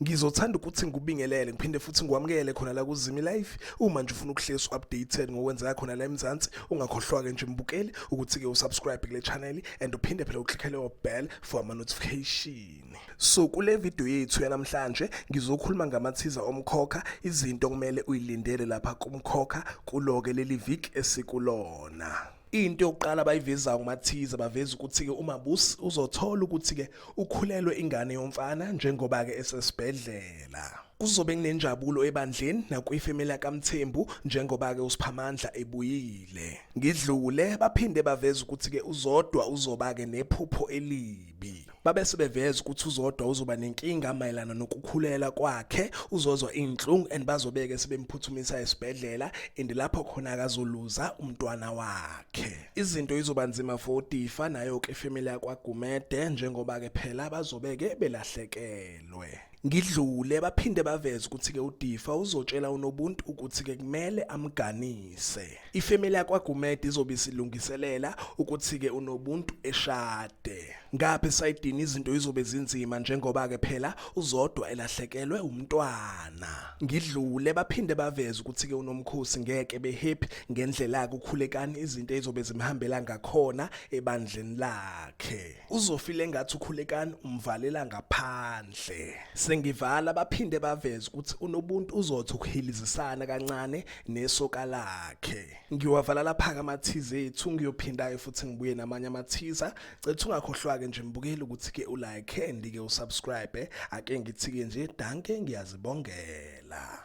ngizothanda ukuthi ngikubingelele ngiphinde futhi ngikwamukele khona la kuzimi life uma nje ufuna ukuhlezi updated ngokwenzeka khona la eMzansi ungakhohlwa ke nje mbukeli ukuthi ke usubscribe kule channel and uphinde phela uklickele obell for ama notification yini. So kule video yethu yanamhlanje ngizokhuluma ngamathiza omkhokha izinto kumele uyilindele lapha kumkhokha kuloke leli viki esikulona. into yokuqala abayivezayo kumathiza baveza ukuthi-ke umabusi uzothola ukuthi-ke ukhulelwe ingane yomfana njengoba-ke esesibhedlela kuzobe kunenjabulo ebandleni nakwifemeli yakamthembu njengoba-ke usiphamandla ebuyile ngidlule baphinde baveza ukuthi-ke uzodwa uzoba-ke nephupho elibi B. Babese beveza ukuthi uzodwa uzoba nenkinga mayelana nokukhulela kwakhe, uzozwa inhlungu and bazobeke sebemphuthumisa esibhedlela and lapho khona akazoluza umntwana wakhe. Izinto izoba nzima for uDifa nayo ke family yakwaGumede njengoba ke phela bazobeke belahlekelwe. Ngidlule baphinde baveza ukuthi ke uDifa uzotshela uNobuntu ukuthi ke kumele amganise. Ifamily yakwaGumede izobe isilungiselela ukuthi-ke unobuntu eshade. Ngapha esayidini izinto izobe zinzima njengoba-ke phela uzodwa elahlekelwe umntwana. Ngidlule baphinde baveze ukuthi-ke unomkhosi ngeke behappy ngendlela-ke ukhulekani izinto ezizobe zimhambela ngakhona ebandleni lakhe. uzofile ngathi ukhulekani umvalela ngaphandle sengivala baphinde baveze ukuthi unobuntu uzothi ukuhilizisana kancane nesoka lakhe ngiwavala lapha amathize ethu ngiyophindayo futhi ngibuye namanye amathiza cethu ungakhohlwake nje mbukeli ukuthi ke ulike and ke usubscribe ake ngithike nje danke ngiyazibongela